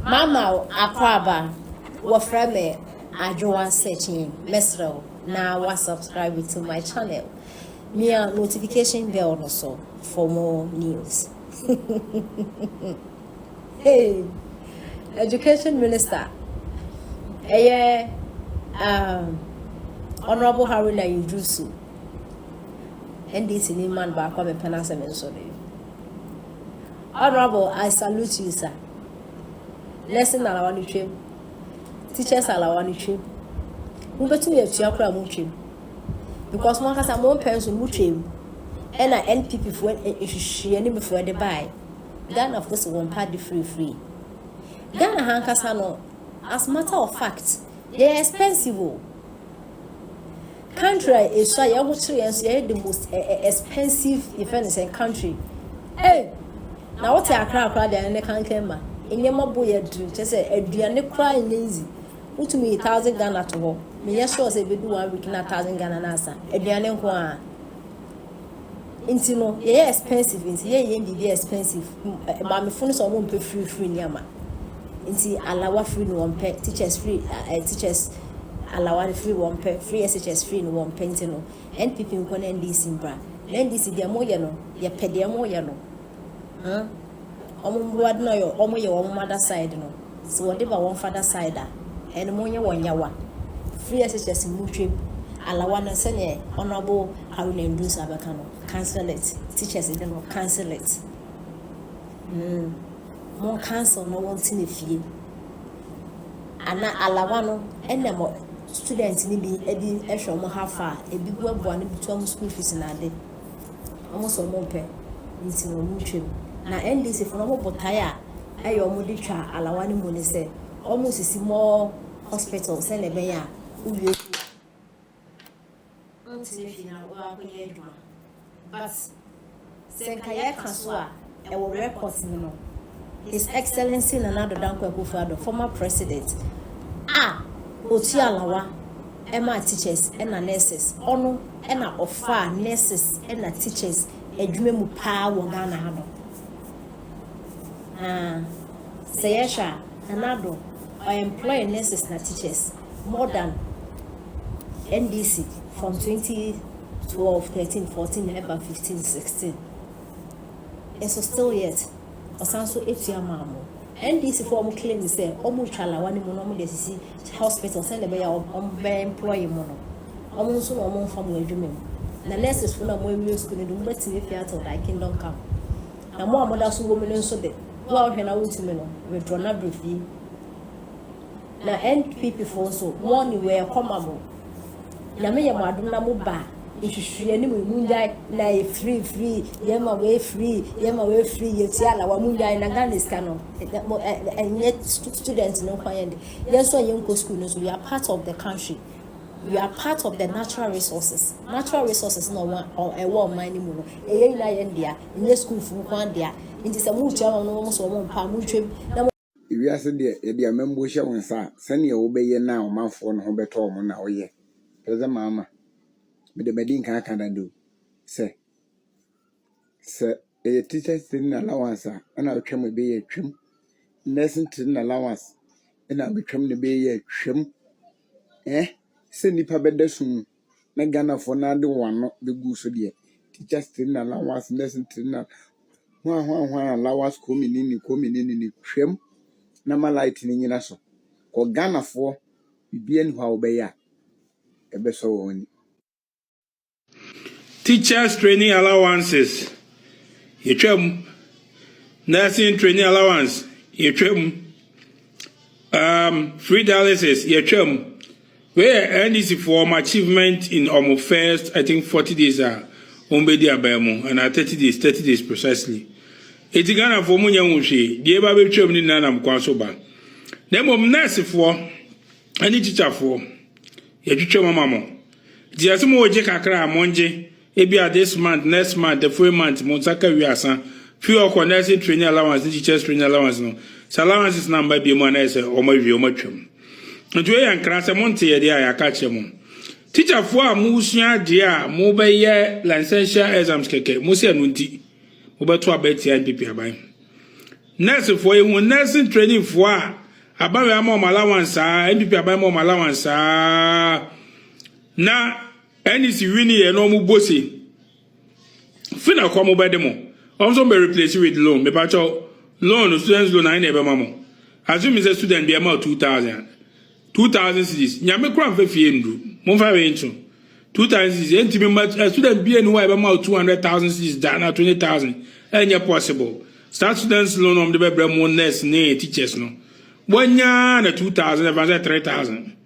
Mama wo akwaaba wɔfrɛ me Adwoa Sekyin mɛsrɛ wo na wa subscribe to my channel mia notification bell no so for more news hey education minister ɛyɛ um, honorable Haruna Iddrisu NDC ni man baako a mepɛ n'asɛm nso no honorable I salute you sir Lesson alawa no twam. Teachers alawa no twam. Mobɛtumi atua koraa mo ntwam. Because mo ankasa mo mpɛ nso no mo twam. Ɛna NPP foɔ nhwehwɛ ne mefoɔ de bae. Ghana foɔ si wɔn mpa de firifiri. Ghana ha ankasa no as matter of fact yɛyɛ expensive o. Country a esua yɛn ho kyerɛ yɛn so yɛyɛ the most eh, eh, expensive yɛfrɛ no sɛn country hey na wote akra akra deɛ ne kankan ma nneɛma bo yɛ diri kyɛ sɛ aduane koraa nyɛ easy wotumi yi thousand ghana to hɔ menyɛ sure sɛ ebedu one week na thousand ghana na asa aduane nko ara. Nti no yɛyɛ expensive nti yɛ yɛ biribi expensive maamefo no sɛ ɔmo mpɛ free free nneɛma nti alawa free no wɔn pɛ teachers free uh, teachers alawa no free wɔn pɛ free SHS free no wɔn pɛ nti no NPP nkɔ na NDC mbra na NDC deɛ mo yɛ no yɛ pɛ deɛ mo yɛ no. Hɛn wɔn mbowa do na wɔn yɛ wɔn mother side no sɛ wɔde ba wɔn father side a hɛn mo nyɛ wɔn yawa free SHS mu hwɛ mu alawa no sɛdeɛ honourable Haruna Ndusi abɛka no cancel it teachers de no cancel it mm mo cancel na wɔn tena fie ana alawa no ɛna mo students no bi ɛde ɛhwɛ wɔn hafa a ebi boaboa no bi to wɔn school fees na ade. Wɔn nso wɔn mpɛ nti na wɔn twa mu. Na NDC fo no wɔn botae a ɛyɛ wɔn de twa alawa no mu ne sɛ wɔn sisi more hospital sɛnea ɛbɛyɛ a wo wie sukuu a wo tena fie na wo akɔyɛ adwuma but sɛ nka yɛ ka so a. Wɔ records mu no, His Excellency Nana Addo Dankwa Akufo-Addo, former President, a otua alawa ma teachers na nurses, ɔno na ɔfaa nurses na teachers adwuma mu paa wɔ Ghana ha no. Na sɛ yɛhwɛ a, Nana Addo, ɔ employ nurses na teachers more than NDC from 2012, 13, 14 ɛba 15, 16. Nso still yet ɔsan nso tua maa mo. NDC foɔ a wɔn claim sɛ wɔn retwa lawa no mu na wɔn de asisi hospital sɛn na ɛbɛyɛ a wɔn bɛ employ mo no wɔn nso na wɔn nfa mo adwuma mu na nurses foɔ no a wɔn awie school no de wɔn bɛtumi afie atil thy kingdom come na mo a mo da so wɔ mu no nso de wo a wohwɛ na wontumi no withdraw na brɛ fie. Na NPP foɔ nso wɔn ne wei ɛkɔ ma mo. Nyame yɛ mo adom na mo ba nhwehwɛ anim yi mo ngyae na yɛ free free yɛ ma wei free yɛ ma wei free yɛ tia la wa mo ngyae na Ghana sika no ɛnyɛ student no nkwa yɛn de yɛn nso a yɛn nkɔ school no nso we are part of the country we are part of the natural resources natural resources na wɔn ɛwɔ ɔman no mu no ɛyɛ nyinaa yɛn dea ɛnyɛ school fo nko adea nti sɛ mo tia wɔn no wɔn nso wɔn mpa mo ntwam na Ewiase deɛ yɛde amambuo hyɛ wo nsa a sɛdeɛ wobɛyɛ no a ɔmanfoɔ no ho bɛtɔ wɔn na woyɛ. President Mahama, mede madi nkan aka dada o sɛ, sɛ ɛyɛ teachers training allowance a ɛna wotwam a ɛbɛyɛ atwam, nursing training allowance ɛna wobɛtwam na ɛbɛyɛ atwam, eh, sɛ nnipa bɛda sum mu. na Ghanafoɔ no ara de wɔn ano bɛguu so deɛ, teachers training allowance, nursing training allowance, hwan hwan hwan allowance kɔ menini kɔ menini no twam na ma light no nyina so. Kɔ Ghanafoɔ biribiara ni hɔ a wobɛyɛ a ɛbɛsɔ wɔn ani. Teachers training allowances yɛtwam, nursing training allowance yɛtwam, Um, free dialysis, yɛtwam. Wei yɛ NDC for wɔn achievement in wɔn first, I think, 40 days a wɔn bɛdi aban mu, anaa 30 days, 30 days precisely. Eti Ghanafoɔ mo nyɛ ho hwee, deɛ ɛba bɛtwam ne nyinaa nam kwan so ba. Na mmom nɛɛsefoɔ ne tikyafoɔ, yɛtwitwam ama mo. Nti yɛse mo gye kakra a, mongye. Ebia this month, next month, the following month, mo nsa ka wiasa. Fi hɔ kɔ, nursing training allowance ne teachers training allowance no, sɛ allowances no amma bio mu a na ayɛ sɛ wɔawie, wɔatwam. Nti wei yɛ nkra, sɛ monteyɛ deɛ a yɛaka akyerɛ mo. Teacherfoɔ a moresua adeɛ a mobɛyɛ licential exams kɛkɛ, mo sɛ ɛno nti mobɛto aba atia NPP aban. Nursefoɔ, yɛhu nursing trainingfoɔ a aban wei ama wɔn allowance saa, NPP aban ma wɔn allowance saa, na Ɛne si wini yɛ na ɔmo bɔ se fi na kɔ ɔmo bɛ de mo ɔmo so bɛ replace with loan me pa kyɛw loan no students loan ayi na ɛbɛ ma mo assuming sɛ student bi ɛma wo two thousand a two thousand cedis nyame kora nfa fie ndu mo nfa wei nto two thousand cedis ɛnti me ma student bi ɛni hɔ a ɛbɛ ma wo two hundred thousand cedis da na twenty thousand ɛnyɛ possible saa students loan ɔmo de bɛ brɛ mo nurse ne teachers no wɔnyaa na two thousand ɛfa sɛ three thousand.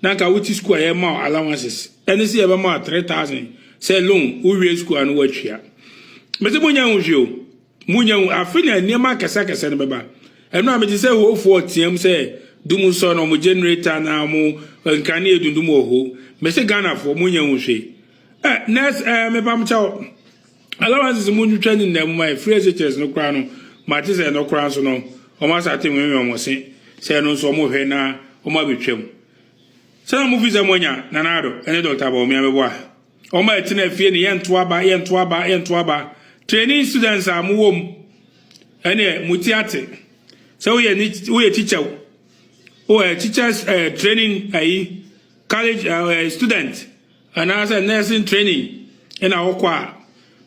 na anka wote sukuu a yɛma wo allowances ɛne sɛ yɛbɛma wo three thousand sɛ loan wowie sukuu a na woatua mese monya hu hwee o monya hu afe na nneɛma akɛsɛkɛsɛ no bɛba ɛno a mete sɛ hofoɔ team sɛ dum sɔ no ɔmo generator na ɔmo nkanea dundum wɔ ho mese Ghanafoɔ monya hu hwee eh nurse eh mepam kyɛw Allowances mu ntwitwa ne nna mu ma ɛfiri SHS no koraa no ma te sɛ ɛno koraa nso no wɔn asate nwenwen wɔn se sɛ ɛno nso wɔn hwɛ na wɔn abɛtwa mu. Sɛ na mo fi sɛ mo anya Nana Addo ne Doctor Bawumia bɛbɔ a wɔn a ɛte na fie no yɛn to aba yɛn to aba yɛn to aba training students a mo wɔ mu ɛneɛ mo ti ate sɛ woyɛ ne woyɛ teacher wo oh, teachers uh, training ayi college uh, student anaasɛ nursing training na wokɔ a,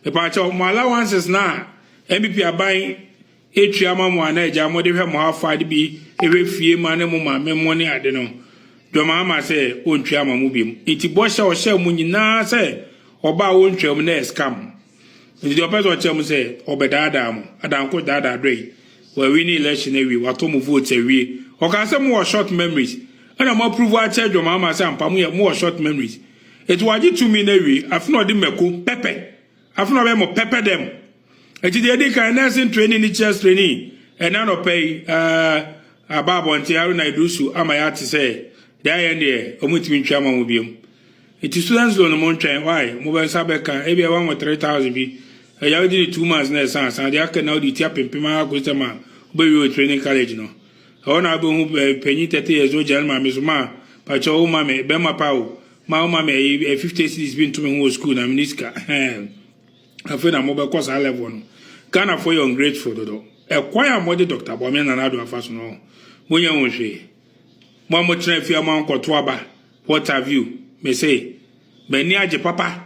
mepaakyɛw, mo allowances no a NPP aban etua ma mo a na agya mode hwɛ mo ha fa de bi hwɛ fie ma ne mo maame mo ne ade no, Dwom ama sɛ ontua ma mo biom. Enti bɔhyɛ a ɔhyɛɛ mo nyinaa sɛ ɔbaa wontwaam na ɛscam. Nti deɛ ɔpɛ sɛ ɔkyerɛ mo sɛ ɔbɛdaadaa mo, Adankoro daadaa dɔ yi, wawini election awie, watɔ mo votes awie, ɔkaa sɛ mowɔ short memories, ɛna mo approve akyɛ adwaman ama sɛ ampa moyɛ, mowɔ short memories. Nti wagye tumi no awie, afe na ɔde mako, pɛpɛ, afe na ɔbɛyɛ mo pɛpɛ dɛm. Nti deɛ ɛdi kan, nursing training ne chess training, ɛna nɔpɛ yi, ɛɛ, aba abɔnten, Haruna Iddrisu ama yɛate sɛ, deɛ ayɛ no deɛ, wɔntumi ntwi ama mo biom. Enti so ɛnsɛ ɔno mo ntwɛn why mo bɛ nsa bɛ ka ebia wa mo three thousand bi ɛya wodi ne two months na ɛsan san deɛ aka na wodi ti apempem ara kosi sɛ ma wobɛ wie wo training college no ɛhɔ na wobɛ hu eh, panyin thirty years old gyina ne maame so ma pakyɛ wo ma me bɛma pa o ma wo ma me ɛyi eh, fifty cities bi nto me ho wɔ school na me ni sika ɛhɛn afei na mo bɛ kɔ saa level no Ghana fo yɛ ungrateful dodo ɛkwan a mo de Dr. Bawumia Nana Addo afa so no mo nyɛ ho hwee mo a mo tena fie a mo ankɔto aba What have you? Me se, m'ani agye papa.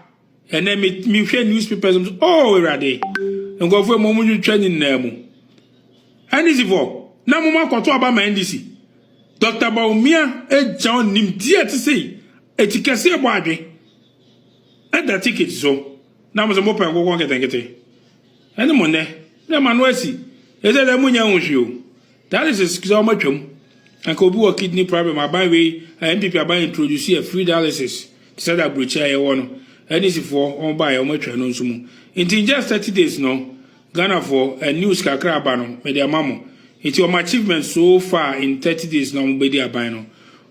Ɛnɛ me mehwɛ newspapers mu. Oh, Awurade. Nkurɔfoɔ mmom mo twitwa nyinaa mu. NDC fo, na mo akɔto aba ma NDC. Dr. Bawumia agya nimdeɛ te sei. Eti kɛse ɛbɔ adwe. Ɛda ticket so. Na mo sɛ mo pɛ nkokɔ nketenkete. Ɛne mo nnɛ. Na ɛma no asi. Ɛsɛ dɛ mo nya ho hwee o. Dialysis sɛ ɔmo atwa mu. Anka obi wɔ kidney problem aban wei a NPP aban introduce yɛ free dialysis te sɛ da aburokyire a yɛwɔ no NDC foɔ ɔmo baeɛ ɔmo atwa ɛno nso mu nti in just thirty days no Ghana foɔ ɛ news kakra aba no mede ama mo nti ɔmo achievement so far in thirty days no ɔmo bɛdi aban no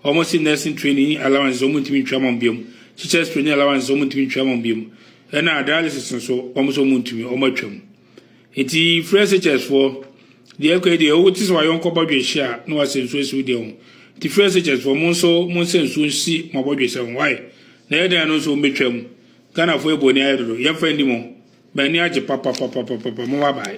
ɔmo se nursing training allowances ɔmo ntumi ntwa ma ɔmo biom teachers training allowances ɔmo ntumi ntwa ma ɔmo biom ɛna dialysis nso ɔmo se ɔmo ntumi ɔmo atwa mu. Enti frɛ SHS-foɔ. Deɛ ɛkɔ yi deɛ, wote sɛ w'ayɔnko bɔ dwehye a, na wasɛ nsuo asi wo deɛ ho. Enti frɛ SHS-foɔ, mo nso monsɛ nsuo nsi mo abɔdwesɛ ho. Wai? Na ɛyɛ dɛn a ɛno nso wɔbɛtwam? Ghanafoɔ yɛ bɔne ayɛ dodo. Yɛmfa nni mo. M'ani agye papapapapapa. Mowɔ abae.